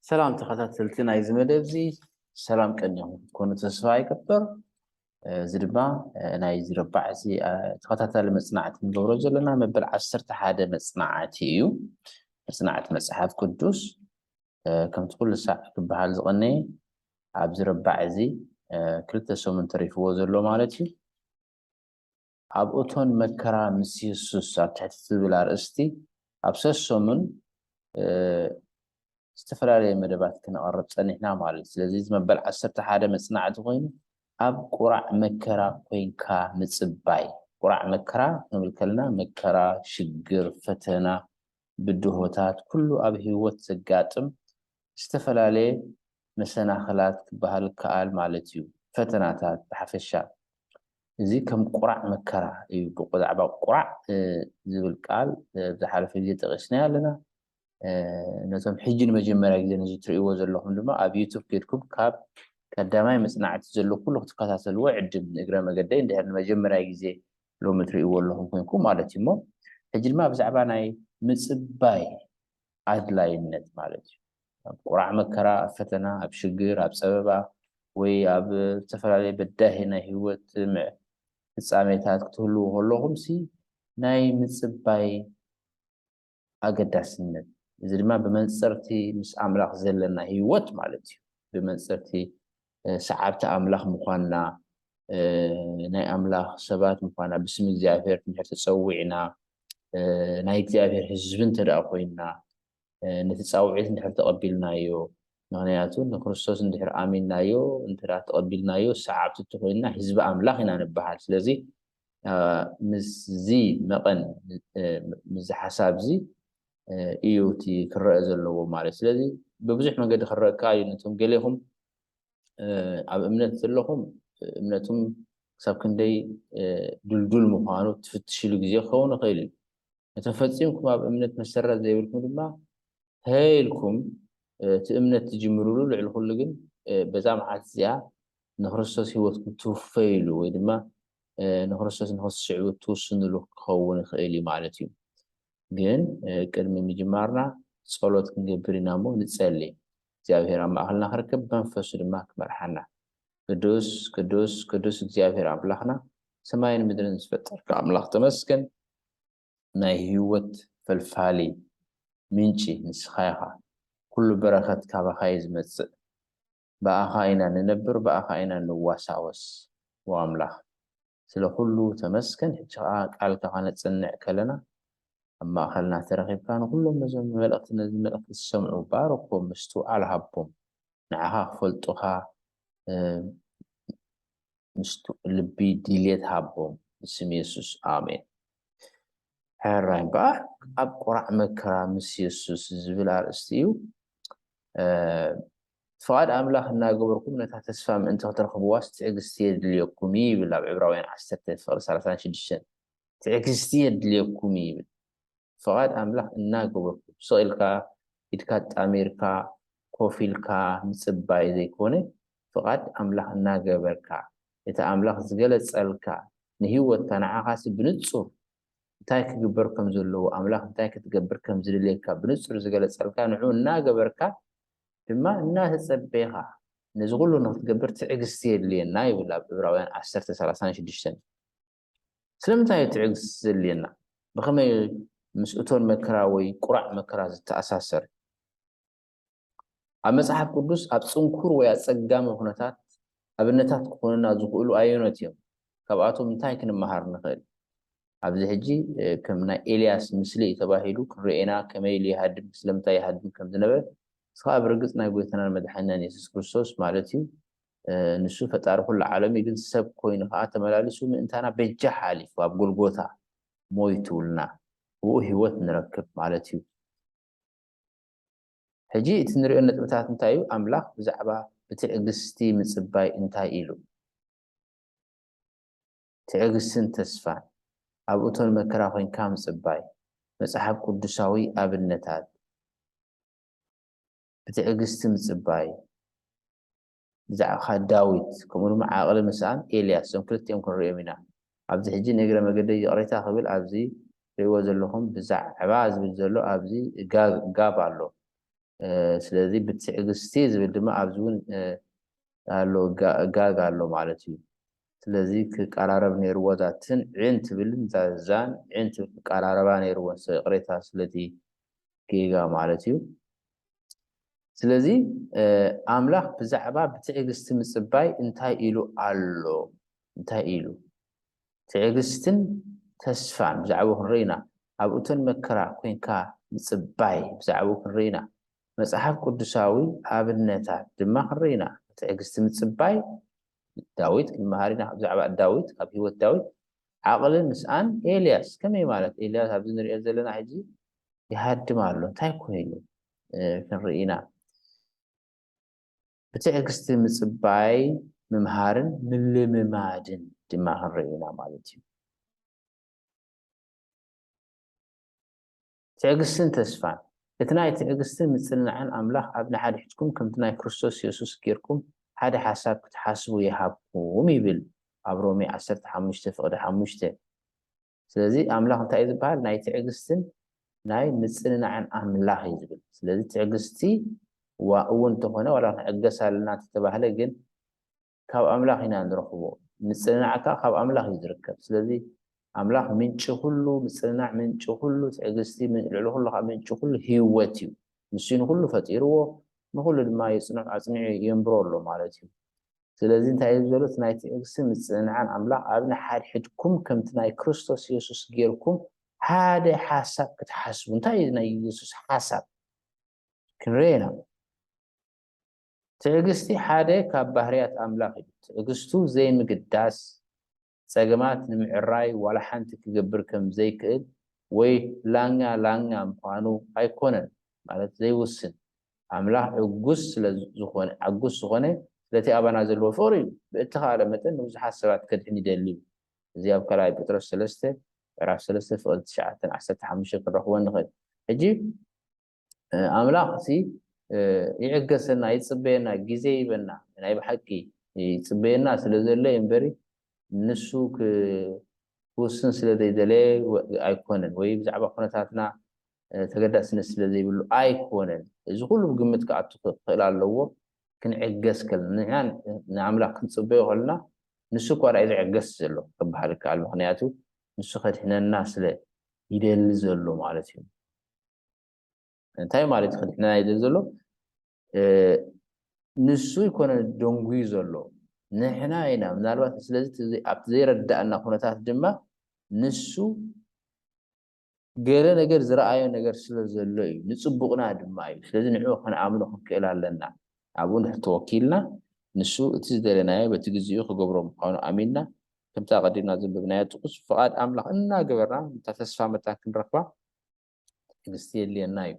ሰላም ተኸታተልቲ ናይዚ መደብ እዚ ሰላም ቀኒኹም ክትኮኑ ተስፋ ይገብር እዚ ድማ ናይ ዝረባዕ እዚ ተኸታታሊ መፅናዕቲ ንገብሮ ዘለና መበል ዓሰርተ ሓደ መፅናዕቲ እዩ መፅናዕቲ መፅሓፍ ቅዱስ ከምቲ ኩሉ ሳዕ ክበሃል ዝቐነየ ኣብዚ ረባዕ እዚ ክልተ ሰሙን ተሪፍዎ ዘሎ ማለት እዩ ኣብ እቶን መከራ ምስ የሱስ ኣብ ትሕቲ ትብል ኣርእስቲ ኣብ ሰሰሙን ዝተፈላለየ መደባት ክነቕርብ ጸኒሕና ማለት እዩ። ስለዚ እዚ መበል ዓሰርተ ሓደ መጽናዕቲ ኮይኑ ኣብ ቁራዕ መከራ ኮይንካ ምጽባይ ቁራዕ መከራ ክንብል ከለና መከራ፣ ሽግር፣ ፈተና፣ ብድሆታት ኩሉ ኣብ ህይወት ዘጋጥም ዝተፈላለየ መሰናኽላት ክበሃል ይከኣል ማለት እዩ፣ ፈተናታት ብሓፈሻ። እዚ ከም ቁራዕ መከራ እዩ፣ ብዛዕባ ቁራዕ ዝብል ቃል ኣብ ዝሓለፈ ግዜ ጠቒስናዮ ኣለና፣ ነቶም ሕጂ ንመጀመርያ ግዜ ነዚ ትርእይዎ ዘለኹም ድማ ኣብ ዩቱብ ኬድኩም ካብ ቀዳማይ መጽናዕቲ ዘሎ ኩሉ ክትከታተልዎ እዕድም፣ ንእግረ መገደይ እንድሕር ንመጀመርያ ግዜ ሎሚ ትርእይዎ ኣለኹም ኮንኩም ማለት እዩ እሞ። ሕጂ ድማ ብዛዕባ ናይ ምጽባይ ኣድላይነት ማለት እዩ። ኣብ ቁራዕ መከራ፣ ኣብ ፈተና፣ ኣብ ሽግር፣ ኣብ ጸበባ ወይ ኣብ ዝተፈላለየ በዳሂ ናይ ህይወት ፍጻሜታት ክትህልዉ ከለኹምሲ ናይ ምጽባይ ኣገዳስነት እዚ ድማ ብመንጽር'ቲ ምስ ኣምላኽ ዘለና ህይወት ማለት እዩ ብመንጽር'ቲ ሰዓብቲ ኣምላኽ ምዃንና፣ ናይ ኣምላኽ ሰባት ምዃንና፣ ብስም እግዚኣብሄር እንድሕር ተጸዊዕና፣ ናይ እግዚኣብሄር ህዝቢ እንተደኣ ኮይንና፣ ነቲ ጻውዒት እንድሕር ተቐቢልናዮ፣ ምኽንያቱ ንክርስቶስ እንድሕር ኣሚንናዮ፣ እንተደኣ ተቐቢልናዮ፣ ሰዓብቲ እንተኾይንና ህዝቢ ኣምላኽ ኢና ንበሃል። ስለዚ ምስዚ መቐን ምስዚ ሓሳብዚ እዩ እቲ ክረአ ዘለዎ ማለት ስለዚ ብብዙሕ መንገዲ ክረአ ከኣ እዩ ነቶም ገሌኹም ኣብ እምነት ዘለኹም እምነቱም ክሳብ ክንደይ ድልዱል ምዃኑ ትፍትሽሉ ግዜ ክኸውን ይኽእል እዩ ነቶም ፈፂምኩም ኣብ እምነት መሰረት ዘይብልኩም ድማ ተይልኩም እቲ እምነት ትጅምርሉ ልዕሊ ኩሉ ግን በዛ መዓልቲ እዚኣ ንክርስቶስ ህይወትኩም እትውፈዩሉ ወይ ድማ ንክርስቶስ ንክትስዕቡ እትውስኑሉ ክኸውን ይኽእል እዩ ማለት እዩ። ግን ቅድሚ ምጅማርና ጸሎት ክንገብር ኢና እሞ ንጸሊ። እግዚኣብሔር ኣብ ማእኸልና ክርከብ መንፈሱ ድማ ክመርሓና። ቅዱስ ቅዱስ ቅዱስ እግዚኣብሔር ኣምላኽና ሰማይን ምድርን ዝፈጠርካ ኣምላኽ ተመስገን ናይ ህይወት ፈልፋሊ ምንጪ ንስኻ ኢኻ ኩሉ በረኸት ካባኻ እዩ ዝመጽእ ብኣኻ ኢና ንነብር ብኣኻ ኢና ንዋሳወስ ኦ ኣምላኽ ስለ ኩሉ ተመስገን ሕጂ ከኣ ቃልካ ከነጽንዕ ከለና ኣብ ማእከልና ተረኺብካ ንኹሎም ነዞም ንመልእኽቲ ነዚ መልእኽቲ ዝሰምዑ ባርኮም ምስትውዓል ሃቦም ንዓኻ ክፈልጡኻ ልቢ ድልየት ሃቦም ብስም የሱስ ኣሜን። ሕራይ እምበኣር ኣብ ቁራዕ መከራ ምስ የሱስ ዝብል ኣርእስቲ እዩ። ፍቓድ ኣምላኽ እናገበርኩም ነታ ተስፋ ምእንቲ ክትረኽብዋስ ትዕግስቲ የድልየኩም እዩ ይብል ኣብ ዕብራውያን ዓሰርተ ፍቕሪ ሰላሳን ሽዱሽተን ትዕግስቲ የድልየኩም እዩ ይብል ፍቓድ ኣምላኽ እናገበርኩም ስቕ ኢልካ ኢድካ ኣጣሚርካ ኮፍ ኢልካ ምጽባይ ዘይኮነ ፍቓድ ኣምላኽ እናገበርካ፣ እቲ ኣምላኽ ዝገለጸልካ ንህይወትካ ንዓኻሲ ብንጹር እንታይ ክግበር ከም ዘለዎ፣ ኣምላኽ እንታይ ክትገብር ከም ዝደልየካ ብንጹር ዝገለጸልካ ንዕኡ እናገበርካ ድማ እናተጸበኻ ነዚ ኹሉ ንኽትገብር ትዕግስቲ የድልየና ይብል ኣብ ዕብራውያን ዓሰርተ ሰላሳን ሽዱሽተን። ስለምንታይ እዩ ትዕግስቲ ዘድልየና? ብኸመይ ምስ እቶን መከራ ወይ ቁራዕ መከራ ዝተኣሳሰር? ኣብ መጽሓፍ ቅዱስ ኣብ ጽንኩር ወይ ኣጸጋሚ ኵነታት ኣብነታት ክዀኑና ዝኽእሉ ኣየኖት እዮም? ካብኣቶም እንታይ ክንመሃር ንኽእል? ኣብዚ ሕጂ ከም ናይ ኤልያስ ምስሊ እዩ ተባሂሉ ክርኤና ከመይ ኢሉ ይሃድም ስለምንታይ ይሃድም ከም ዝነበረ እዚ ከኣ ብርግጽ ናይ ጎይታናን መድሓኒናን የሱስ ክርስቶስ ማለት እዩ ንሱ ፈጣሪ ኩሉ ዓለም እዩ ግን ሰብ ኮይኑ ከኣ ተመላሊሱ ምእንታና በጃ ሓሊፉ ኣብ ጎልጎታ ሞይቱልና ብኡ ህይወት ንረክብ ማለት እዩ ሕጂ እቲ ንርእዮ ነጥብታት እንታይ እዩ? ኣምላኽ ብዛዕባ ብትዕግስቲ ምጽባይ እንታይ ኢሉ? ትዕግስትን ተስፋን ኣብ እቶን መከራ ኮይንካ ምጽባይ፣ መጽሓፍ ቅዱሳዊ ኣብነታት ብትዕግስቲ ምጽባይ፣ ብዛዕባኻ ዳዊት ከምኡ ድማ ዓቕሊ ምስኣን ኤልያስ እዞም ክልቲኦም ክንርእዮም ኢና። ኣብዚ ሕጂ ንእግረ መገደይ ይቕሬታ ክብል ኣብዚ ትርእይዎ ዘለኹም ብዛዕባ ዝብል ዘሎ ኣብዚ ጋብ ኣሎ ስለዚ ብትዕግስቲ ዝብል ድማ ኣብዚ ውን ኣሎ ጋግ ኣሎ ማለት እዩ ስለዚ ክቃራረብ ነይርዎ እዛ ትን ዕን ትብልን እዛ ዛን ዕን ትብል ክቃራረባ ነይርወን ይቕሬታ ስለቲ ጌጋ ማለት እዩ። ስለዚ ኣምላኽ ብዛዕባ ብትዕግስቲ ምጽባይ እንታይ ኢሉ ኣሎ? እንታይ ኢሉ? ትዕግስትን ተስፋን ብዛዕባኡ ክንርኢ ኢና። ኣብ እቶን መከራ ኰይንካ ምጽባይ ብዛዕባኡ ክንርኢ ኢና። መጽሓፍ ቅዱሳዊ ኣብነታት ድማ ክንርኢ ኢና። ብትዕግስቲ ምጽባይ ዳዊት ክንመሃር ኢና። ብዛዕባ ዳዊት ካብ ህይወት ዳዊት ዓቕሊ ምስኣን ኤልያስ ከመይ ማለት ኤልያስ ኣብዚ ንሪኦ ዘለና ሕጂ ይሃድም ኣሎ እንታይ ኮይኑ ክንርኢ ኢና ብትዕግስቲ ምጽባይ ምምሃርን ምልምማድን ድማ ክንርኢ ኢና ማለት እዩ ትዕግስትን ተስፋን። እቲ ናይ ትዕግስትን ምጽንናዕን ኣምላኽ ኣብ ንሓድሕድኩም ከምቲ ናይ ክርስቶስ የሱስ ጌርኩም ሓደ ሓሳብ ክትሓስቡ ይሃብኩም ይብል ኣብ ሮሜ ዓሰርተ ሓሙሽተ ፍቕዲ ሓሙሽተ። ስለዚ ኣምላኽ እንታይ እዩ ዝበሃል ናይ ትዕግስትን ናይ ምጽንናዕን ኣምላኽ እዩ ዝብል። ስለዚ ትዕግስቲ እዋ እውን እንተኾነ ዋላ ክንዕገስ ኣለና እንተተባህለ ግን ካብ ኣምላኽ ኢና ንረኽቦ ምጽንናዕ ከኣ ካብ ኣምላኽ እዩ ዝርከብ ስለዚ ኣምላኽ ምንጪ ኩሉ ምጽንናዕ ምንጪ ኩሉ ትዕግስቲ ልዕሊ ኩሉ ከኣ ምንጪ ኩሉ ህይወት እዩ ንሱ እዩ ንኹሉ ፈጢርዎ ንኹሉ ድማ የጽንዑ ኣጽኒዑ የንብሮ ኣሎ ማለት እዩ ስለዚ እንታይ እዩ ዘሎ እቲ ናይ ትዕግስትን ምጽንናዕን ኣምላኽ ኣብ ንሓድሕድኩም ከምቲ ናይ ክርስቶስ የሱስ ጌርኩም ሓደ ሓሳብ ክትሓስቡ እንታይ እዩ ናይ የሱስ ሓሳብ ክንርኤ ኢና ትዕግስቲ ሓደ ካብ ባህርያት ኣምላኽ እዩ። ትዕግስቱ ዘይምግዳስ፣ ጸገማት ንምዕራይ ዋላ ሓንቲ ክገብር ከም ዘይክእል ወይ ላኛ ላኛ ምዃኑ ኣይኮነን፣ ማለት ዘይውስን። ኣምላኽ ዕጉስ ስለ ዝኾነ ዓጉስ ዝኾነ ስለቲ ኣባና ዘለዎ ፍቕሪ እዩ። ብእተኻእለ መጠን ንብዙሓት ሰባት ከድሕን ይደሊ እዩ። እዚ ኣብ ካልኣይ ጴጥሮስ ሰለስተ ምዕራፍ ሰለስተ ፍቕዲ ትሽዓተ ዓሰርተ ሓሙሽተ ክንረኽቦ ንኽእል። ሕጂ። ኣምላኽ ሲ ይዕገሰና ይጽበየና ግዜ ይበና ናይ ብሓቂ ይጽበየና ስለ ዘሎ እምበሪ ንሱ ክውስን ስለ ዘይደለየ ኣይኮነን ወይ ብዛዕባ ኩነታትና ተገዳስነት ስለ ዘይብሉ ኣይኮነን እዚ ኩሉ ብግምት ክኣቱ ክኽእል ኣለዎ ክንዕገስ ከለና ንሕና ንኣምላኽ ክንጽበዮ ከለና ንሱ እኳ ዳዩ ዝዕገስ ዘሎ ክበሃል ይከኣል ምክንያቱ ንሱ ከድሕነና ስለ ይደሊ ዘሎ ማለት እዩ እንታይ ማለት እዩ ክድሕነና ይደል ዘሎ ንሱ ይኮነ ደንጉዩ ዘሎ ንሕና ኢና ምናልባት ስለዚ ኣብቲ ዘይረዳእና ኩነታት ድማ ንሱ ገለ ነገር ዝረኣዮ ነገር ስለ ዘሎ እዩ ንፅቡቕና ድማ እዩ ስለዚ ንዕኡ ክንኣምኖ ክንክእል ኣለና ኣብኡ ንሕ ተወኪልና ንሱ እቲ ዝደለናዮ በቲ ግዜኡ ክገብሮ ምዃኑ ኣሚንና ከምታ ቀዲምና ዘንበብናዮ ጥቕስ ፍቓድ ኣምላኽ እናገበርና እታ ተስፋ መታን ክንረኽባ ትዕግስቲ የድልየና እዩ።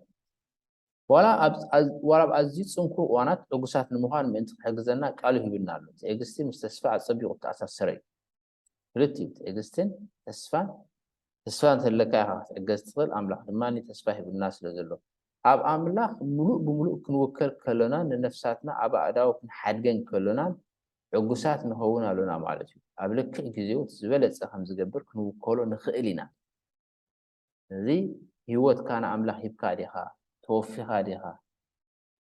ዋላ ኣብ ኣዝዩ ጽንኩር እዋናት ዕጉሳት ንምዃን ምእንቲ ክሕግዘና ቃሉ ሂቡና ኣሎ። ትዕግስቲ ምስ ተስፋ ኣጸቢቑ እተኣሳሰረ እዩ። ክልቲኡ ትዕግስትን ተስፋን ተስፋ እንተለካ ኢኻ ክትዕገዝ ትኽእል፣ ኣምላኽ ድማ ተስፋ ሂቡና ስለ ዘሎ። ኣብ ኣምላኽ ምሉእ ብምሉእ ክንውከል ከሎናን ንነፍሳትና ኣብ ኣእዳው ክንሓድገን ከሎናን ዕጉሳት ንኸውን ኣሎና ማለት እዩ። ኣብ ልክዕ ግዜኡ እቲ ዝበለጸ ከም ዝገብር ክንውከሎ ንኽእል ኢና። እዚ ህይወትካ ንኣምላኽ ሂብካ ዲኻ? ተወፊኻ ዲኻ?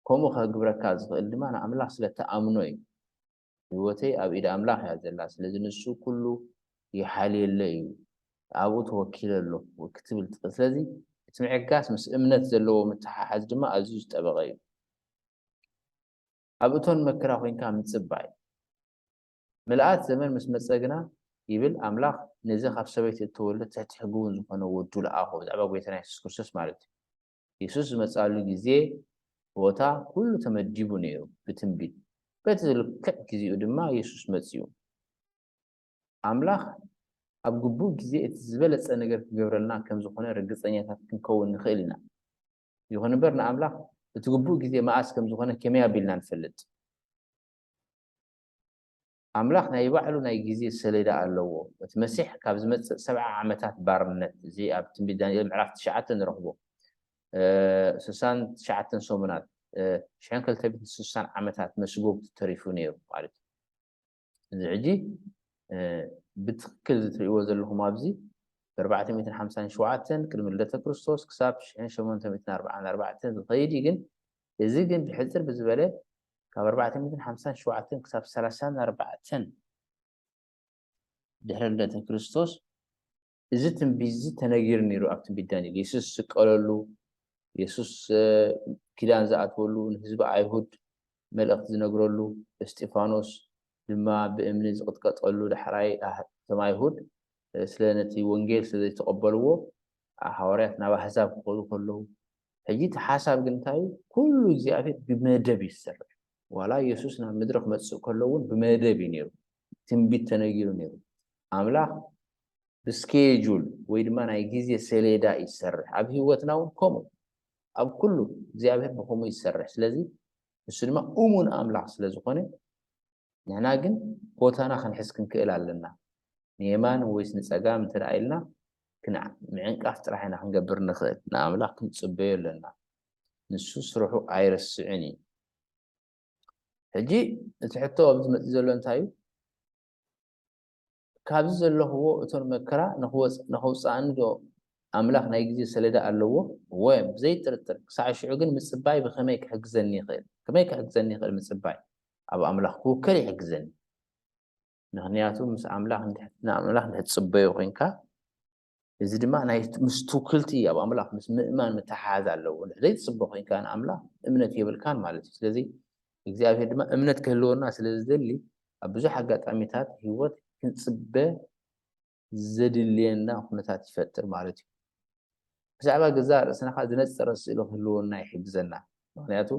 ከምኡ ከግብረካ ዝኽእል ድማ ንኣምላኽ ስለ እትኣምኖ እዩ። ህይወተይ ኣብ ኢድ ኣምላኽ እያ ዘላ፣ ስለዚ ንሱ ኩሉ ይሓልየለይ እዩ፣ ኣብኡ ተወኪለ ኣለኹ ክትብል ትኽእል። ስለዚ እቲ ምዕጋስ ምስ እምነት ዘለዎ ምትሓሓዝ ድማ ኣዝዩ ዝጠበቐ እዩ። ኣብ እቶን መከራ ኮይንካ ምጽባይ። ምልኣት ዘመን ምስ መጸ ግና ይብል ኣምላኽ ነዚ ካብ ሰበይቲ እተወልደ ትሕቲ ሕጊ እውን ዝዀነ ወዱ ለኣኾ፣ ብዛዕባ ጐይታና የሱስ ክርስቶስ ማለት እዩ። የሱስ ዝመጽኣሉ ግዜ፣ ቦታ፣ ኵሉ ተመዲቡ ነይሩ ብትንቢት። በቲ ልክዕ ግዜኡ ድማ የሱስ መጺኡ። ኣምላኽ ኣብ ግቡእ ግዜ እቲ ዝበለጸ ነገር ክገብረልና ከም ዝዀነ ርግጸኛታት ክንከውን ንኽእል ኢና። ይኹን እምበር ንኣምላኽ እቲ ግቡእ ግዜ መኣስ ከም ዝዀነ ከመይ ኣቢልና ንፈልጥ? ኣምላኽ ናይ ባዕሉ ናይ ግዜ ሰሌዳ ኣለዎ። እቲ መሲሕ ካብ ዝመጽእ ሰብዓ ዓመታት ባርነት፣ እዚ ኣብ ትንቢት ዳንኤል ምዕራፍ ትሽዓተ ንረኽቦ ስሳን ትሽዓተን ሰሙናት፣ ሽሕን ክልተ ሚእትን ስሳን ዓመታት መስጎጉቲ ተሪፉ ነይሩ ማለት እዩ። እዚ ሕጂ ብትክክል ዝትርእይዎ ዘለኹም ኣብዚ ብኣርባዕተ ሚእትን ሓምሳን ሸውዓተን ቅድሚ ልደተ ክርስቶስ ክሳብ ሽሕን ሸሞንተ ሚእትን ኣርብዓን ኣርባዕተን ዝኸይድ እዩ ግን እዚ ግን ብሕጽር ብዝበለ ካብ ኣርባዕተ ሚእትን ሓምሳን ሸውዓተን ክሳብ ሰላሳን ኣርባዕተን ድሕሪ ልደተ ክርስቶስ እዚ ትንቢት እዚ ተነጊሩ ነይሩ ኣብ ትንቢት ዳንኤል የሱስ ዝስቀለሉ የሱስ ኪዳን ዝኣትወሉ ንህዝቢ ኣይሁድ መልእኽቲ ዝነግረሉ እስጢፋኖስ ድማ ብእምኒ ዝቕጥቀጠሉ ዳሕራይ እቶም ኣይሁድ ስለ ነቲ ወንጌል ስለ ዘይተቐበልዎ ሃዋርያት ናብ ኣሕዛብ ክኸዱ ከለዉ ሕጂ እቲ ሓሳብ ግን እንታይ እዩ? ኩሉ እግዚኣብሄር ብመደብ እዩ ዝሰርሕ። ዋላ የሱስ ናብ ምድሪ ክመጽእ ከሎ እውን ብመደብ እዩ ነይሩ። ትንቢት ተነጊሩ ነይሩ። ኣምላኽ ብስኬጁል ወይ ድማ ናይ ግዜ ሰሌዳ እዩ ዝሰርሕ። ኣብ ህይወትና እውን ከምኡ ኣብ ኩሉ እግዚኣብሄር ብከምኡ እዩ ዝሰርሕ። ስለዚ ንሱ ድማ እሙን ኣምላኽ ስለ ዝኾነ ንሕና ግን ቦታና ክንሕዝ ክንክእል ኣለና። ንየማን ወይስ ንጸጋም እንተ ደኣ ኢልና ክንዕ ምዕንቃፍ ጥራሕ ኢና ክንገብር እንኽእል። ንኣምላኽ ክንጽበዮ ኣለና። ንሱ ስርሑ ኣይረስዕን እዩ። ሕጂ እቲ ሕቶ ኣብዚ መጺኡ ዘሎ እንታይ እዩ? ካብዚ ዘለኹዎ እቶን መከራ ንኽወጽእ ንኽውጽኣኒ ዶ ኣምላኽ ናይ ግዜ ሰሌዳ ኣለዎ? እወ፣ ብዘይ ጥርጥር! ክሳዕ ሽዑ ግን ምጽባይ ብኸመይ ክሕግዘኒ ይኽእል? ከመይ ክሕግዘኒ ይኽእል ምጽባይ? ኣብ ኣምላኽ ክውከል ይሕግዘኒ። ምኽንያቱ ምስ ኣምላኽ ንኣምላኽ እንድሕር ትጽበዮ ኮይንካ እዚ ድማ ናይ ምስ ትውክልቲ ኣብ ኣምላኽ ምስ ምእማን ምትሓሓዝ ኣለዎ። እንድሕር ዘይትጽበ ኮይንካ ንኣምላኽ እምነት የብልካን ማለት እዩ። ስለዚ እግዚኣብሄር ድማ እምነት ክህልወና ስለ ዝደሊ ኣብ ብዙሕ ኣጋጣሚታት ህይወት ክንጽበ ዘድልየና ኩነታት ይፈጥር ማለት እዩ። ብዛዕባ ገዛእ ርእስና ከኣ ዝነጸረ ስእሊ ክህልወና ይሕግዘና። ምክንያቱ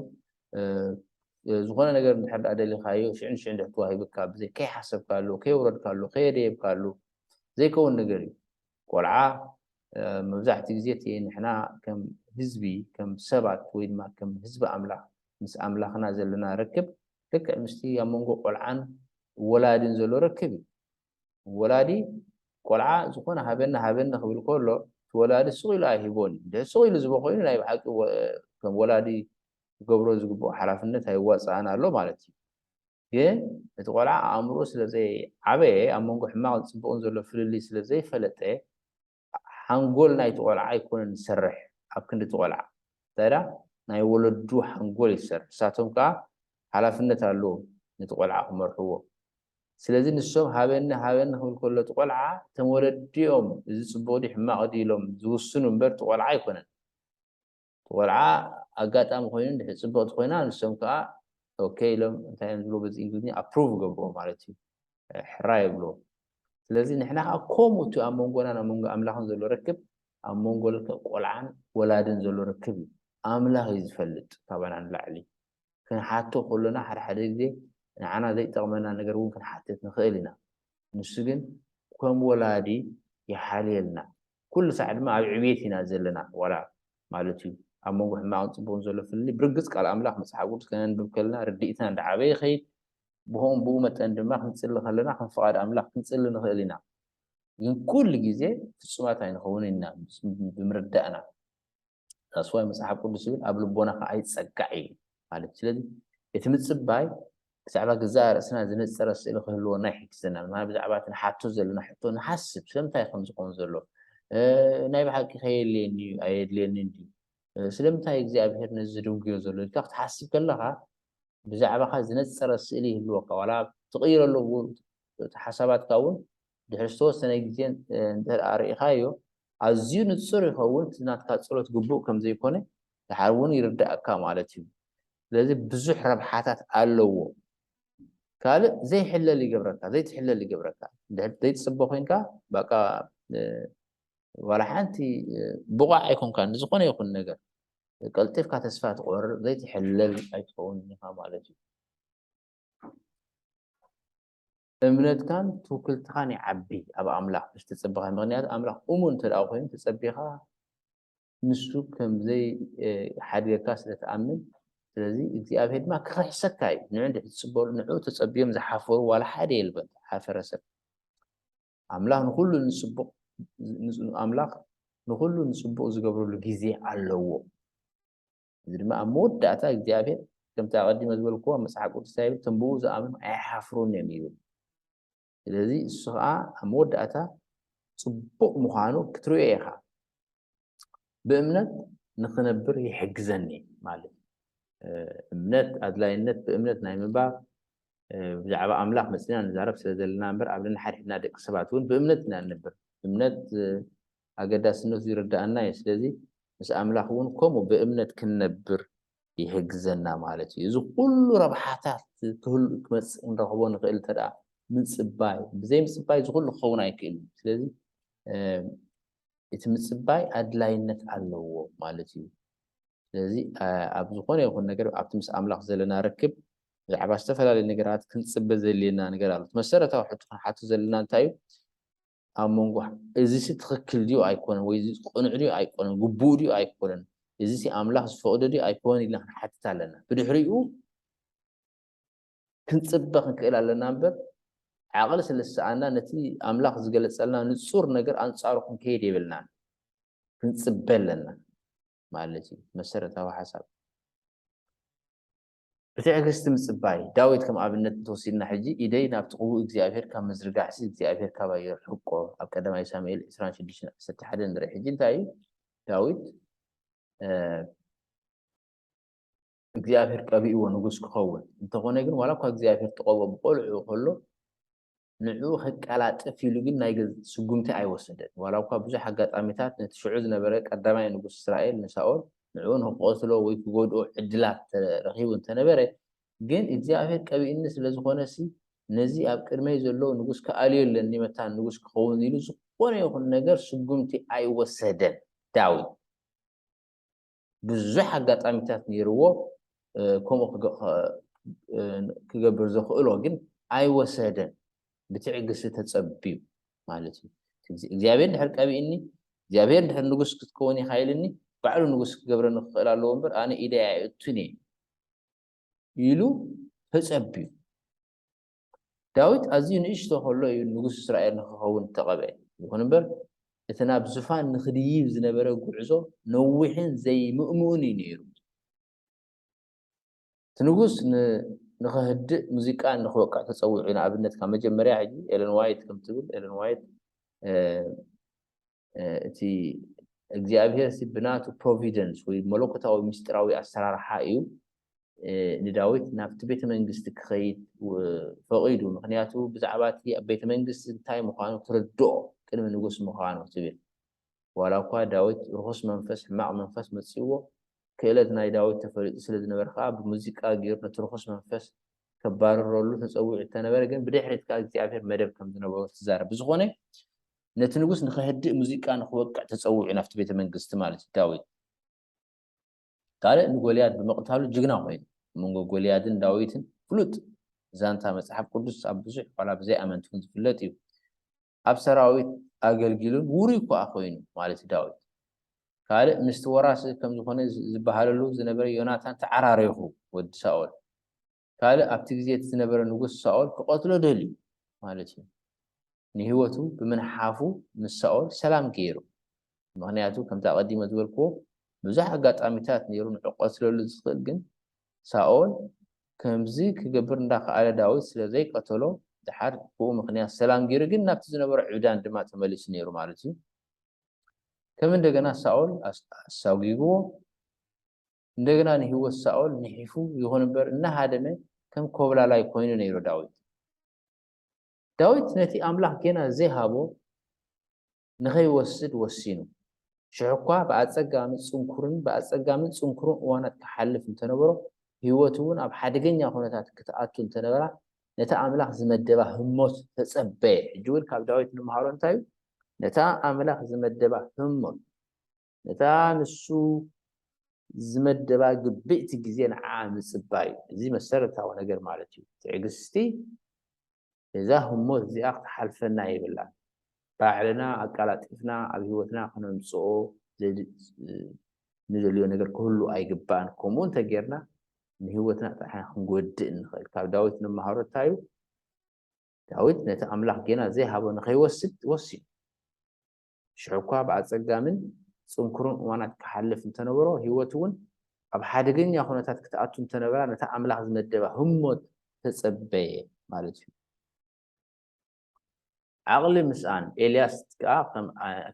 ዝኾነ ነገር እንድሕር ደኣ ደሊኻዮ ሽዑ ንሽዑ እንድሕር ተዋሂብካ ብዘይ ከይሓሰብካሉ ከየውረድካሉ ከየደየብካሉ ዘይከውን ነገር እዩ ቆልዓ መብዛሕትኡ ግዜ እቲ ንሕና ከም ህዝቢ ከም ሰባት ወይ ድማ ከም ህዝቢ ኣምላኽ ምስ ኣምላኽና ዘለና ርክብ ልክዕ ምስቲ ኣብ መንጎ ቆልዓን ወላድን ዘሎ ርክብ እዩ ወላዲ ቆልዓ ዝኾነ ሃበኒ ሃበኒ ክብል ከሎ እቲ ወላዲ ስቕ ኢሉ ኣይህቦን እዩ። እንድሕር ስቕ ኢሉ ዝህቦ ኮይኑ ናይ ብሓቂ ከም ወላዲ ክገብሮ ዝግብኦ ሓላፍነት ኣይዋጽኣን ኣሎ ማለት እዩ። ግን እቲ ቆልዓ ኣእምርኡ ስለ ዘይዓበየ ኣብ መንጎ ሕማቕን ጽቡቕን ዘሎ ፍልልይ ስለ ዘይፈለጠ ሓንጎል ናይቲ ቆልዓ ኣይኮነን ዝሰርሕ ኣብ ክንዲ እቲ ቆልዓ እንታይዳ ናይ ወለዱ ሓንጎል እዩ ዝሰርሕ ንሳቶም ከኣ ሓላፍነት ኣለዎም ነቲ ቆልዓ ክመርሕዎ ስለዚ ንሶም ሃበኒ ሃበኒ ክብል ከሎ እቲ ቆልዓ እቶም ወለዲ እዮም እዚ ጽቡቕ ድዩ ሕማቕ ድዩ ኢሎም ዝውስኑ እምበር እቲ ቆልዓ ኣይኮነን ቆልዓ ኣጋጣሚ ኮይኑ እንድሕር ጽብቕቲ ኮይና ንሶም ከኣ ኦኬ ኢሎም እንታይ እዮም ዝብልዎ በዚ እንግሊዝኛ ኣፕሩቭ ይገብርዎ ማለት እዩ ሕራይ ይብልዎ ስለዚ ንሕና ከዓ ከምኡ እቲ ኣብ መንጎናን ኣብ መንጎ ኣምላኽን ዘሎ ርክብ ኣብ መንጎ ልክዕ ቆልዓን ወላድን ዘሎ ርክብ እዩ ኣምላኽ እዩ ዝፈልጥ ካባና ንላዕሊ ክንሓቶ ከሎና ሓደ ሓደ ግዜ ንዓና ዘይጠቕመና ነገር እውን ክንሓትት ንኽእል ኢና ንሱ ግን ከም ወላዲ ይሓልየልና ኩሉ ሳዕ ድማ ኣብ ዕብየት ኢና ዘለና ዋላ ማለት እዩ ኣብ መንጎ ሕማቅን ጽቡቅን ዘሎ ፍልልይ ብርግጽ ቃል ኣምላኽ መጽሓፍ ቅዱስ ከነንብብ ከለና ርድኢትና እንዳዓበየ ይኸይድ ብኸምኡ ብኡ መጠን ድማ ክንጽሊ ከለና ከም ፍቃድ ኣምላኽ ክንጽሊ ንኽእል ኢና ግን ኩሉ ግዜ ፍጹማት ኣይንኸውንን ኢና ብምርዳእና ዳስዋይ መጽሓፍ ቅዱስ ይብል ኣብ ልቦናኻ ኣይጸጋዕ እዩ ማለት ስለዚ እቲ ምጽባይ ብዛዕባ ግዛእ ርእስና ዝነጸረ ስእሊ ክህልወና ይሕግዘናል ማለት ብዛዕባ እቲ ንሓቶ ዘለና ሕቶ ንሓስብ ስለምንታይ ከም ዝኸውን ዘሎ ናይ ብሓቂ ከየድልየኒ እዩ ኣየድልየኒ ድዩ ስለምንታይ እግዚኣብሄር ነዚ ድንጉዮ ዘሎ ኢልካ ክትሓስብ ከለኻ ብዛዕባኻ ዝነጸረ ስእሊ ይህልወካ ዋላ ትቕይረሉ ሓሳባትካ እውን ድሕሪ ዝተወሰነ ግዜ እንድሕር ኣርኢኻዮ ኣዝዩ ንጹር ይኸውን እቲ ናትካ ጸሎት ግቡእ ከም ዘይኮነ ድሓር እውን ይርድኣካ ማለት እዩ ስለዚ ብዙሕ ረብሓታት ኣለዎ ካልእ ዘይሕለል ይገብረካ ዘይትሕለል ይገብረካ ድሕር ዘይትጽበ ኮንካ በቃ ዋላ ሓንቲ ብቑዕ ኣይኮንካን ንዝኾነ ይኹን ነገር ቀልጢፍካ ተስፋ ትቆርብ ዘይትሕለል ኣይትኸውን ኢኻ ማለት እዩ እምነትካን ትውክልትኻን ይዓቢ ኣብ ኣምላኽ ምስ ተጸበኻ ምኽንያቱ ኣምላኽ እሙን እንተ ደኣ ኮይኑ ተጸቢኻ ንሱ ከም ዘይሓድገካ ስለ ትኣምን ስለዚ እግዚኣብሄር ድማ ክኽሕሰካ እዩ ንዑ እንድሕር ትጽበሉ ንዑ ተጸብዮም ዝሓፈሩ ዋላ ሓደ የልበን ሓፈረ ሰብ ኣምላኽ ንኹሉ ንጽቡቕ ኣምላኽ ንኹሉ ንጽቡቕ ዝገብረሉ ግዜ ኣለዎ እዚ ድማ ኣብ መወዳእታ እግዚኣብሔር ከምቲ ኣቐዲመ ዝበልክዎ ኣብ መጽሓፍ ቅዱስ እንታይ ይብል እቶም ብኡ ዝኣምኑ ኣይሓፍሩን እዮም ይብል ስለዚ እሱ ከዓ ኣብ መወዳእታ ጽቡቕ ምዃኑ ክትርእዮ ኢኻ ብእምነት ንክነብር ይሕግዘኒ ማለት እምነት ኣድላይነት ብእምነት ናይ ምንባር ብዛዕባ ኣምላኽ መፅና ንዛረብ ስለ ዘለና እምበር ኣብ ነንሓድሕድና ደቂ ሰባት እውን ብእምነት ኢና ንነብር እምነት ኣገዳስነቱ ይርድኣና እዩ ስለዚ ምስ ኣምላኽ እውን ከምኡ ብእምነት ክንነብር ይሕግዘና ማለት እዩ እዚ ኩሉ ረብሓታት ክህሉ ክመጽእ ክንረኽቦ ንኽእል እንተ ምጽባይ ብዘይ ምጽባይ እዚ ኩሉ ክኸውን ኣይክእልን ስለዚ እቲ ምጽባይ ኣድላይነት ኣለዎ ማለት እዩ ስለዚ ኣብ ዝኾነ ይኹን ነገር ኣብቲ ምስ ኣምላኽ ዘለና ርክብ ብዛዕባ ዝተፈላለዩ ነገራት ክንፅበ ዘድልየና ነገር ኣሎ መሰረታዊ ሕቶ ክንሓቱ ዘለና እንታይ እዩ ኣብ መንጎ እዚሲ ትኽክል ድዩ ኣይኮነን ወይ እዚ ቅኑዕ ድዩ ኣይኮነን ግቡእ ድዩ ኣይኮነን እዚሲ ኣምላኽ ዝፈቕዶ ድዩ ኣይኮነን ኢልና ክንሓትት ኣለና ብድሕሪኡ ክንጽበ ክንክእል ኣለና እምበር ዓቕሊ ስለ ዝሰኣና ነቲ ኣምላኽ ዝገለጸልና ንጹር ነገር ኣንጻሩ ክንከይድ የብልናን ክንጽበ ኣለና ማለት እዩ መሰረታዊ ሓሳብ ብትዕግስቲ ምጽባይ፣ ዳዊት ከም ኣብነት እንተወሲድና ሕጂ ኢደይ ናብቲ ቅቡእ እግዚኣብሄር ካብ ምዝርጋሕሲ እግዚኣብሄር ካባይ የርሕቆ ኣብ ቀዳማይ ሳሙኤል ዕስራን ሽዱሽተን ዓሰርተ ሓደን ንርኢ ሕጂ እንታይ እዩ ዳዊት እግዚኣብሄር ቀቢእዎ ንጉስ ክኸውን እንተኾነ ግን ዋላ እኳ እግዚኣብሄር ተቐብኦ ብቆልዑ ከሎ ንዕኡ ከቀላጥፍ ኢሉ ግን ናይ ገዝእ ስጕምቲ ኣይወሰደን። ዋላ'ኳ ብዙሕ ኣጋጣሚታት ነቲ ሽዑ ዝነበረ ቀዳማይ ንጉስ እስራኤል ንሳኦል ንዕኡ ንኽቐትሎ ወይ ክጐድኦ ዕድላት ረኺቡ እንተ ነበረ፣ ግን እግዚኣብሄር ቀቢኡኒ ስለ ዝዀነሲ ነዚ ኣብ ቅድመይ ዘሎ ንጉስ ክኣልዮ ኣለኒ፣ መታን ንጉስ ክኸውን ኢሉ ዝዀነ ይኹን ነገር ስጕምቲ ኣይወሰደን። ዳዊት። ብዙሕ ኣጋጣሚታት ነይርዎ ከምኡ ክገብር ዘኽእሎ ግን ኣይወሰደን ብትዕግስቲ ተጸብዩ ማለት እዩ እግዚኣብሔር ድሕር ቀቢእኒ እግዚኣብሔር ድሕር ንጉስ ክትከውን ኢኻ ኢልኒ ባዕሉ ንጉስ ክገብረኒ ክኽእል ኣለዎ እምበር ኣነ ኢደይ ኣይእቱን እየ ኢሉ ተጸብዩ ዳዊት ኣዝዩ ንእሽቶ ኸሎ እዩ ንጉስ እስራኤል ንኽኸውን እተቐብኤ። ይኹን እምበር፣ እቲ ናብ ዝፋን ንኽድይብ ዝነበረ ጕዕዞ ነዊሕን ዘይምእምኡን እዩ ነይሩ። እቲ ንጉስ ን ንኸህድእ ሙዚቃ ንኽወቅዕ ተጸዊዑ እዩ። ንኣብነት፣ ካብ መጀመርያ ሕጂ፣ ኤለን ዋይት ከም እትብል፣ ኤለን ዋይት፣ እቲ እግዚኣብሄር ሲ ብናቱ ፕሮቪደንስ ወይ መለኮታዊ ምስጢራዊ ኣሰራርሓ እዩ ንዳዊት ናብቲ ቤተ መንግስቲ ክኸይድ ፈቒዱ ምክንያቱ ብዛዕባ እቲ ኣብ ቤተ መንግስቲ እንታይ ምዃኑ ክርድኦ ቅድሚ ንጉስ ምዃኑ ትብል ዋላ እኳ ዳዊት ርኹስ መንፈስ ሕማቕ መንፈስ መፅዎ ክእለት ናይ ዳዊት ተፈሊጡ ስለ ዝነበረ ከዓ ብሙዚቃ ገይሩ ነቲ ርኹስ መንፈስ ከባርረሉ ተፀዊዑ እተነበረ ግን ብድሕሪት ከዓ እግዚኣብሔር መደብ ከም ዝነበሩ ትዛረብ ብዝኾነ ነቲ ንጉስ ንኸህድእ ሙዚቃ ንኽወቅዕ ተጸዊዑ ናብቲ ቤተ መንግስቲ ማለት እዩ ዳዊት ካልእ ንጎልያድ ብምቕታሉ ጅግና ኮይኑ ኣብ መንጎ ጎልያድን ዳዊትን ፍሉጥ ዛንታ መጽሓፍ ቅዱስ ኣብ ብዙሕ ዋላ ብዘይ ኣመንቲ እውን ዝፍለጥ እዩ ኣብ ሰራዊት ኣገልጊሉን ውሩይ እኳ ኮይኑ ማለት ዳዊት ካልእ ምስቲ ወራሲ ከም ዝኾነ ዝበሃለሉ ዝነበረ ዮናታን ተዓራሪኹ ወዲ ሳኦል ካልእ ኣብቲ ግዜ እቲ ዝነበረ ንጉስ ሳኦል ክቐትሎ ደልዩ ማለት እዩ። ንህይወቱ ብምንሓፉ ምስ ሳኦል ሰላም ገይሩ። ምኽንያቱ ከምቲ ኣቐዲመ ዝበልክዎ ብዙሕ ኣጋጣሚታት ነይሩ ንዑ ክቐትለሉ ዝኽእል ግን ሳኦል ከምዚ ክገብር እንዳኸኣለ ዳዊት ስለ ዘይቀተሎ ደሓር ብኡ ምኽንያት ሰላም ገይሩ ግን ናብቲ ዝነበሮ ዕብዳን ድማ ተመሊሱ ነይሩ ማለት እዩ። ከም እንደገና ሳኦል ኣሳጒግዎ። እንደገና ንህይወት ሳኦል ንሒፉ፣ ይኹን እምበር እናሃደመ ከም ኰብላላይ ኰይኑ ነይሩ። ዳዊት ዳዊት ነቲ ኣምላኽ ጌና ዘይሃቦ ንኸይወስድ ወሲኑ፣ ሽሕኳ ብኣጸጋሚ ጽንኩርን ብኣጸጋምን ጽንኩርን እዋናት ክሓልፍ እንተነበሮ፣ ህይወቱ እውን ኣብ ሓደገኛ ዅነታት ክትኣቱ እንተነበራ፣ ነታ ኣምላኽ ዝመደባ ህሞት ተጸበየ። ሕጂ እውን ካብ ዳዊት ንምሃሮ እንታይ እዩ? ነታ ኣምላኽ ዝመደባ ህሞት። ነታ ንሱ ዝመደባ ግብእቲ ግዜ ንዓኣ ምጽባይ እዩ። እዚ መሰረታዊ ነገር ማለት እዩ። ትዕግስቲ ነዛ ህሞት እዚኣ ክትሓልፈና የብላን። ባዕልና ኣቀላጢፍና ኣብ ህይወትና ክነምጽኦ ንደልዮ ነገር ክህሉ ኣይግባእን። ከምኡ እንተ ጌርና ንህይወትና ጥራሕ ኢና ክንጎድእ እንኽእል። ካብ ዳዊት እንመሃሮ እንታይ እዩ? ዳዊት ነቲ ኣምላኽ ጌና ዘይሃቦ ንኸይወስድ ወሲኑ። ሽሕ'ኳ ብኣጸጋምን ጽንኩርን እዋናት ክሓልፍ እንተነበሮ፣ ህይወቱ'ውን ኣብ ሓደገኛ ኩነታት ክትኣቱ እንተነበራ፣ ነታ ኣምላኽ ዝመደባ ህሞት ተጸበየ ማለት እዩ። ዓቕሊ ምስኣን ኤልያስ ከኣ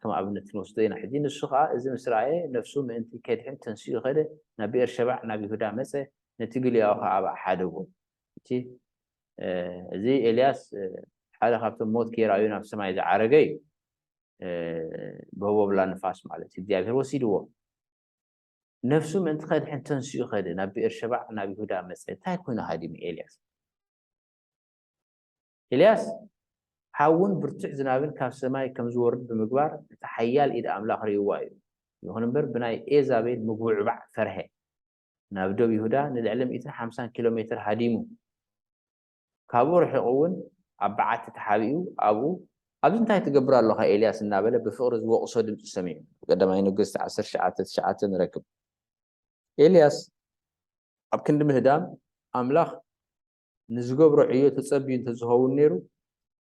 ከም ኣብነት ክንወስዶ ኢና። ሕጂ ንሱ ኸኣ እዚ ምስ ረኣየ፣ ነፍሱ ምእንቲ ኬድሕን ተንሲኡ ከደ፣ ናብ ብኤርሸባዕ ናብ ይሁዳ መጸ፣ ነቲ ግልያኡ ኸኣ ኣብኣ ሓደጎ። እቲ እዚ ኤልያስ ሓደ ካብቶም ሞት ከይረኣዩ ናብ ሰማይ ዝዓረገ እዩ ብህቦብላ ንፋስ ማለት እዩ እግዚኣብሔር ወሲድዎ ነፍሱ ምእንቲ ከድሕን ተንስኡ ከደ ናብ ብኤር ሸባዕ ናብ ይሁዳ መፀ እንታይ ኮይኑ ሃዲሙ ኤልያስ ኤልያስ ሓውን ብርቱዕ ዝናብን ካብ ሰማይ ከም ዝወርድ ብምግባር እቲ ሓያል ኢድ ኣምላኽ ርእይዋ እዩ ይኹን እምበር ብናይ ኤዛቤል ምጉዕባዕ ፈርሀ ናብ ዶብ ይሁዳ ንልዕሊ ሚእትን ሓምሳን ኪሎ ሜትር ሃዲሙ፣ ካብኡ ርሒቑ እውን ኣብ በዓቲ ተሓቢኡ ኣብኡ፣ ኣብዚ እንታይ ትገብር ኣሎኻ ኤልያስ እናበለ ብፍቕሪ ዝወቕሶ ድምጺ ሰሚዑ። ቀዳማይ ነገሥት ዓሰርተ ትሽዓተ፣ ትሽዓተ ንረክብ። ኤልያስ ኣብ ክንዲ ምህዳም ኣምላኽ ንዝገብሮ ዕዮ ተጸብዩ እንተዝኸውን ነይሩ፣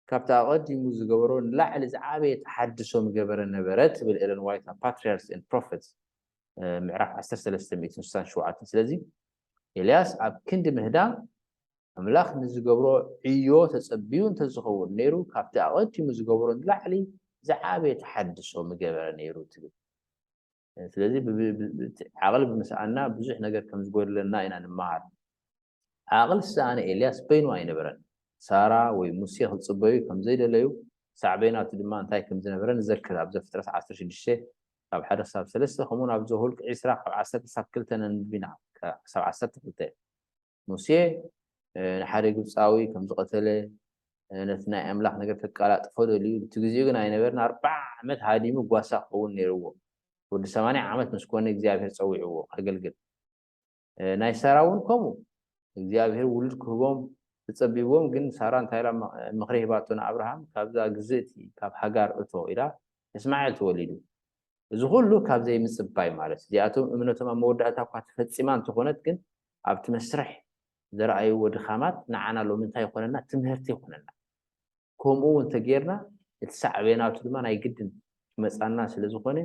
ካብቲ ኣቐዲሙ ዝገበሮ ንላዕሊ ዝዓበየ ተሓድሶ ምገበረ ነበረ ትብል ኤለን ዋይት ኣብ ፓትሪያርስ ኤንድ ፕሮፌትስ ምዕራፍ ዓሰርተ ሰለስተ ሚእትን ስሳን ሸውዓተን። ስለዚ ኤልያስ ኣብ ክንዲ ምህዳም ኣምላኽ ንዝገብሮ ዕዮ ተጸብዩ እንተዝኸውን ነይሩ፣ ካብቲ ኣቐዲሙ ዝገበሮ ንላዕሊ ዝዓበየ ተሓድሶ ምገበረ ነይሩ ትብል። ስለዚ ዓቕሊ ብምስኣና ብዙሕ ነገር ከም ዝጎድለና ኢና ንመሃር። ዓቕሊ ዝሰኣነ ኤልያስ በይኑ ኣይነበረን። ሳራ ወይ ሙሴ ክጽበዩ ከም ዘይደለዩ፣ ሳዕቤናቱ ድማ እንታይ ከም ዝነበረ ንዘክር፣ ኣብ ዘፍጥረት ዓሰርተ ሽዱሽተ ካብ ሓደ ክሳብ ሰለስተ ከምኡውን ኣብ ዘሁልቅ ዕስራ ካብ ዓሰርተ ክሳብ ክልተ ነንብብ ኢና፣ ክሳብ ዓሰርተ ክልተ። ሙሴ ንሓደ ግብፃዊ ከም ዝቐተለ ነቲ ናይ ኣምላኽ ነገር ከቀላጥፎ ደልዩ እቲ ግዜኡ ግን ኣይነበርን ኣርብዓ ዓመት ሃዲሙ ጓሳ ክኸውን ነይርዎ ወዲ ሰማንያ ዓመት ምስ ኮነ እግዚኣብሔር ጸዊዕዎ ከገልግል ናይ ሳራ እውን ከምኡ እግዚኣብሔር ውሉድ ክህቦም ተጸቢብዎም ግን ሳራ እንታይ ኢላ ምኽሪ ሂባቶ ንኣብርሃም ካብዛ ግዝእቲ ካብ ሃጋር እቶ ኢላ እስማኤል ተወሊዱ እዚ ኩሉ ካብ ዘይምጽባይ ማለት እዚኣቶም እምነቶም ኣብ መወዳእታ እኳ ተፈጺማ እንተኾነት ግን ኣብቲ መስርሕ ዘርኣይዎ ድኻማት ንዓና ሎሚ እንታይ ይኾነና ትምህርቲ ይኾነና ከምኡ እውን ተጌርና እቲ ሳዕቤናቱ ድማ ናይ ግድን ክመጻና ስለ ዝኾነ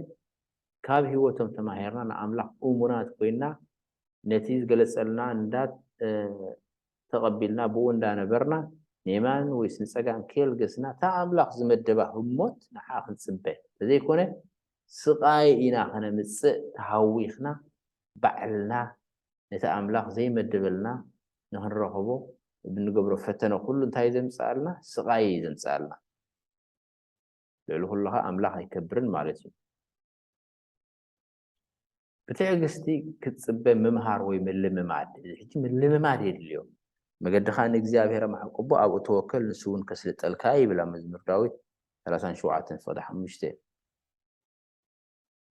ካብ ህይወቶም ተማሂርና ንኣምላኽ እሙናት ኮይና ነቲ ዝገለጸልና እንዳ ተቐቢልና ብኡ እንዳ ነበርና ንየማን ወይስ ንጸጋም ከየልገስና እታ ኣምላኽ ዝመደባ ህሞት ንዓኣ ክንጽበ ተዘይኮነ ስቓይ ኢና ከነምጽእ ተሃዊኽና ባዕልና ነቲ ኣምላኽ ዘይመደበልና ንክንረኽቦ ብንገብሮ ፈተነ ኩሉ እንታይ ዘምጽኣልና ስቓይ እዩ ዘምጽኣልና ልዕሊ ኩሉ ከኣ ኣምላኽ ኣይከብርን ማለት እዩ ብትዕግስቲ ክትጽበ ምምሃር ወይ ምልምማድ፣ እዚ ሕጂ ምልምማድ የድልዮ። መገድኻ ንእግዚኣብሄር ኣማዕቍቦ፣ ኣብኡ ተወከል፣ ንሱውን ከስልጠልካ'ዩ ይብል ኣብ መዝሙር ዳዊት ሰላሳን ሸውዓተን ፍቕዲ ሓሙሽተ።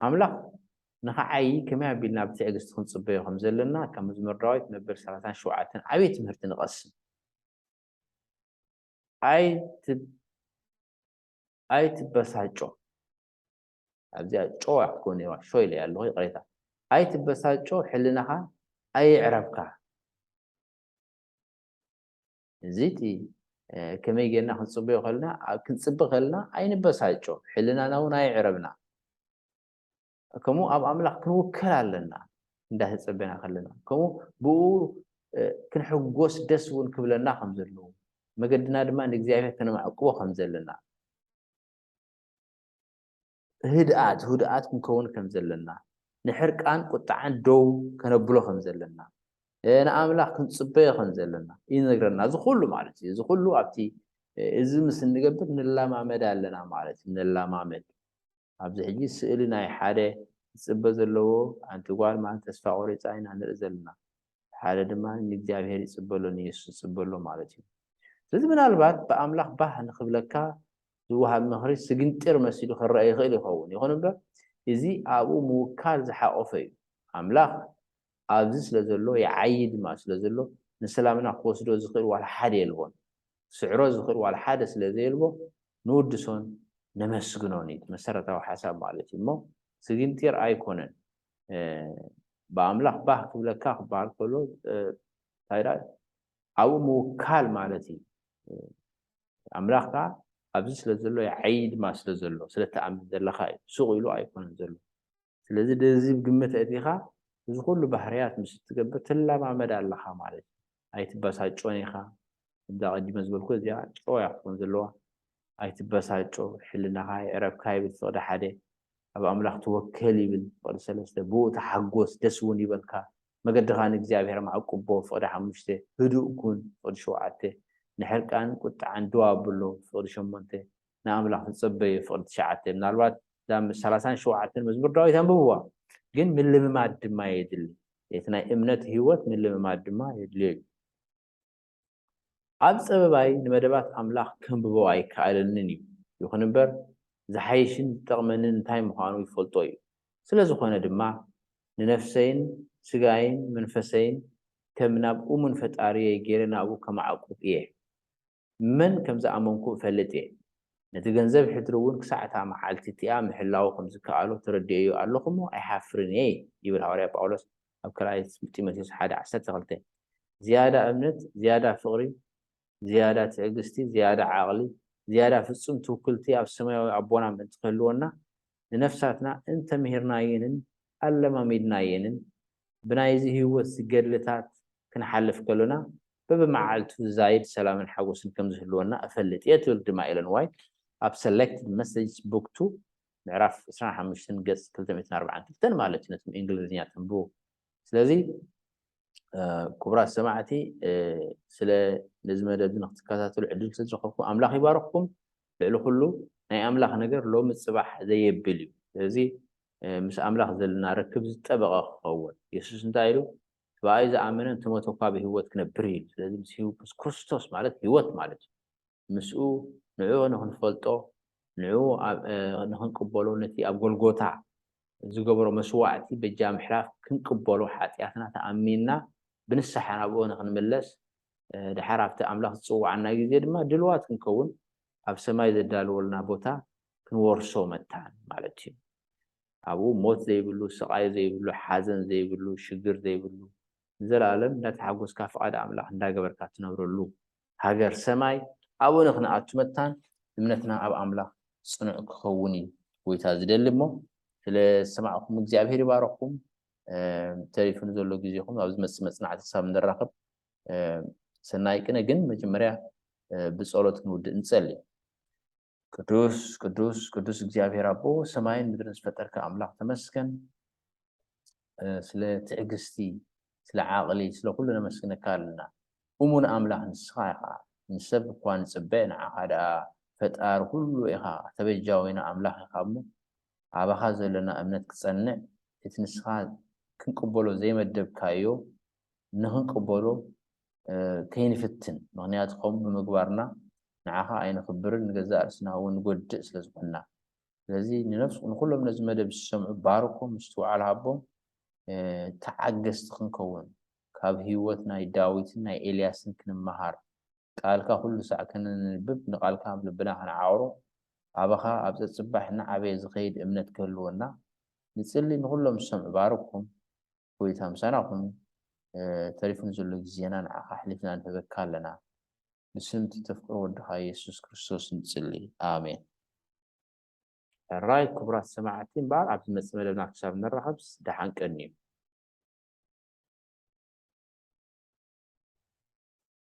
ኣምላኽ ንኽዓዪ ከመይ ኣቢልና ብትዕግስቲ ክንጽበዮ ከም ዘለና ካብ መዝሙር ዳዊት መበል ሰላሳን ሸውዓተን ዓብዪ ትምህርቲ ንቐስም። ኣይትበሳጮ። ኣብዚኣ ጨው ኣይክትኮን እየዋ ሾይ ኢለያ ኣለኹ ይቕሬታ ኣይትበሳጮ ሕልናኻ ኣይዕረብካ እዚቲ ከመይ ጌርና ክንፅበዮ ከልና ክንፅቢ ከልና ኣይንበሳጮ ሕልናና እውን ኣይዕረብና ከምኡ ኣብ ኣምላኽ ክንውከል ኣለና እንዳተፀበና ከለና ከምኡ ብኡ ክንሕጎስ ደስ እውን ክብለና ከም ዘለዎ መገድና ድማ ንእግዚኣብሔር ከነማዕቅቦ ከም ዘለና ህድኣት ህዱኣት ክንከውን ከም ዘለና፣ ንሕርቃን ቁጥዓን ደው ከነብሎ ከም ዘለና፣ ንኣምላኽ ክንጽበዮ ከም ዘለና ይነግረና። እዚ ኩሉ ማለት እዩ እዚ ኩሉ ኣብቲ እዚ ምስ እንገብር ንለማመድ ኣለና ማለት እዩ ንለማመድ ኣብዚ ሕጂ ስእሊ ናይ ሓደ ዝጽበ ዘለዎ ኣንቲ ጓል ማለት ተስፋ ቆሪጻ ኢና ንርኢ ዘለና ሓደ ድማ ንእግዚኣብሔር ይጽበሎ ንየሱስ ይጽበሎ ማለት እዩ ስለዚ ምናልባት ብኣምላኽ ባህ ንክብለካ ዝወሃብ ምኽሪ ስግንጢር መሲሉ ክረኣ ይኽእል ይኸውን። ይኹን እምበር፣ እዚ ኣብኡ ምውካል ዝሓቖፈ እዩ። ኣምላኽ ኣብዚ ስለ ዘሎ፣ ይዓዪ ድማ ስለ ዘሎ፣ ንሰላምና ክወስዶ ዝኽእል ዋላ ሓደ የልቦን። ክስዕሮ ዝኽእል ዋላ ሓደ ስለ ዘየልቦ ንውድሶን ነመስግኖን እዩ እቲ መሰረታዊ ሓሳብ ማለት እዩ እሞ ስግንጢር ኣይኮነን። ብኣምላኽ ባህ ክብለካ ክበሃል ከሎ እንታይ ደኣ ኣብኡ ምውካል ማለት እዩ። ኣምላኽ ከኣ ኣብዚ ስለ ዘሎ ይዓዪ ድማ ስለ ዘሎ ስለ እትኣምን ዘለኻ እዩ ሱቕ ኢሉ ኣይኮነን ዘሎ። ስለዚ ነዚ ግምት ኣእቲኻ እዚ ኩሉ ባህርያት ምስ እትገብር ትለማመድ ኣለኻ ማለት እዩ። ኣይትበሳጮን ኢኻ ከምዛ ኣቐዲመ ዝበልኩ እዚኣ ጨው እያ ክትኮን ዘለዋ። ኣይትበሳጮ ሕልናኻ የዕረፍካ ይብል ፍቕዲ ሓደ። ኣብ ኣምላኽ ተወከል ይብል ፍቕዲ ሰለስተ። ብእኡ ተሓጎስ ደስ እውን ይበልካ። መገድኻ ንእግዚኣብሔር ኣማዕቁቦ፣ ፍቕዲ ሓሙሽተ፣ ህዱእ ኩን፣ ፍቕዲ ሸውዓተ፣ ንሕርቃን ቁጥዓን ደው ኣብሎ፣ ፍቕዲ ሸሞንተ፣ ንኣምላኽ ተጸበዮ፣ ፍቕዲ ትሽዓተ። ምናልባት እዛ ሰላሳን ሸውዓተን መዝሙር ዳዊት ኣንብብዋ፣ ግን ምልምማድ ድማ የድሊ። እቲ ናይ እምነት ህይወት ምልምማድ ድማ የድልዮ እዩ። ኣብ ጸበባይ ንመደባት ኣምላኽ ከንብቦ ኣይከኣለንን እዩ፣ ይኹን እምበር ዝሓይሽን ዝጠቕመንን እንታይ ምዃኑ ይፈልጦ እዩ። ስለ ዝኾነ ድማ ንነፍሰይን ስጋይን መንፈሰይን ከም ናብ እሙን ፈጣሪየይ ገይረ ናብኡ ከማዕቁብ እየ። መን ከም ዝኣመንኩ እፈልጥ እየ። ነቲ ገንዘብ ሕድሪ እውን ክሳዕ እታ መዓልቲ እቲኣ ምሕላዉ ከም ዝከኣሎ ተረዲኤዮ ኣለኹ እሞ ኣይሓፍርን እየ ይብል ሃዋርያ ጳውሎስ ኣብ ካልኣይ ጢሞቴዎስ ሓደ ዓሰርተ ክልተ። ዝያዳ እምነት፣ ዝያዳ ፍቕሪ፣ ዝያዳ ትዕግስቲ፣ ዝያዳ ዓቕሊ፣ ዝያዳ ፍጹም ትውክልቲ ኣብ ሰማያዊ ኣቦና ምእንቲ ክህልወና፣ ንነፍሳትና እንተ ምሂርናየንን ኣለማሚድናየንን፣ ብናይዚ ህይወት ገድልታት ክንሓልፍ ከሎና፣ በብመዓልቱ ዝዛይድ ሰላምን ሓጐስን ከም ዝህልወና እፈልጥ እየ ትብል ድማ ኤለን ዋይት ኣብ Selected Messages Book Two ምዕራፍ ዕስራን ሓሙሽተን ገጽ ክልተ ሚእትን ኣርብዓን ክልተን ማለት እዩ ነቲ ብእንግሊዝኛ ተንብቡ ስለዚ ክቡራት ሰማዕቲ ስለ ነዚ መደብ ንክትከታተሉ ዕድል ስለዝረኸብኩም ኣምላኽ ይባርኽኩም ልዕሊ ኩሉ ናይ ኣምላኽ ነገር ሎሚ ጽባሕ ዘየብል እዩ ስለዚ ምስ ኣምላኽ ዘለና ርክብ ዝጠበቐ ክኸውን የሱስ እንታይ ኢሉ እቲ ብኣይ ዝኣመነ እንተሞተ እኳ ብህይወት ክነብር ኢሉ ስለዚ ምስ ክርስቶስ ማለት ህይወት ማለት እዩ ምስኡ ንዕኡ ንኽንፈልጦ ንዕኡ ንኽንቅበሎ ነቲ ኣብ ጎልጎታ ዝገበሮ መስዋዕቲ በጃ ምሕላፍ ክንቅበሎ ሓጥያትና ተኣሚንና ብንስሓ ናብኡ ንኽንምለስ ደሓር ኣብቲ ኣምላኽ ዝጽውዓና ግዜ ድማ ድልዋት ክንከውን ኣብ ሰማይ ዘዳልወልና ቦታ ክንወርሶ መታን ማለት እዩ። ኣብኡ ሞት ዘይብሉ፣ ስቓይ ዘይብሉ፣ ሓዘን ዘይብሉ፣ ሽግር ዘይብሉ ንዘለኣለም እንዳተሓጎስካ ፍቓድ ኣምላኽ እንዳገበርካ ትነብረሉ ሃገር ሰማይ ኣብኡ ንክንኣቱ መታን እምነትና ኣብ ኣምላኽ ጽኑዕ ክኸውን እዩ ጎይታ ዝደሊ እሞ ስለ ዝሰማዕኩም እግዚኣብሄር ይባርኽኩም ተሪፉ ንዘሎ ግዜኹም ኣብ ዝመጽእ መጽናዕቲ ክሳብ ንራኸብ ሰናይ ቅነ ግን መጀመርያ ብጸሎት ክንውድእ ንጸሊ ቅዱስ ቅዱስ ቅዱስ እግዚኣብሔር ኣቦ ሰማይን ምድርን ዝፈጠርካ ኣምላኽ ተመስገን ስለ ትዕግስቲ ስለ ዓቕሊ ስለ ኩሉ ነመስግነካ ኣለና እሙን ኣምላኽ ንስኻ ኢኻ ንሰብ እኳ ንፅበ ንዓኻ ደኣ ፈጣሪ ኩሉ ኢኻ ተበጃዊና ኣምላኽ ኢኻ እሞ ኣባኻ ዘለና እምነት ክፀንዕ እቲ ንስኻ ክንቅበሎ ዘይመደብካዮ ንኽንቅበሎ ከይንፍትን፣ ምኽንያቱ ከምኡ ብምግባርና ንዓኻ ኣይነኽብርን ንገዛእ ርእስና እውን ንጎድእ ስለ ዝኾንና። ስለዚ ንነፍስ ንኹሎም ነዚ መደብ ዝሰምዑ ባርኮም፣ ምስትውዓል ሃቦም፣ ተዓገስቲ ክንከውን፣ ካብ ህይወት ናይ ዳዊትን ናይ ኤልያስን ክንመሃር፣ ቃልካ ኩሉ ሳዕ ከነንብብ ንቃልካ ኣብ ልብና ክንዓቕሮ፣ ኣባኻ ኣብ ጸጽባሕ እናዓበየ ዝኸይድ እምነት ክህልወና ንጽሊ ንኹሎም ዝሰምዑ ባርኮም። ጎይታ ምሳና ኩን ተሪፉ ንዘሎ ግዜና ንዓካ ኣሕሊፍና ንህበካ ኣለና ብስም እቲ ተፍቅሮ ወድካ የሱስ ክርስቶስ ንጽሊ ኣሜን። ሕራይ ክቡራት ሰማዕቲ እምበኣር ኣብ ዝመጽእ መደብና ክሳብ ንራኸብስ ደሓን ቀንዩ።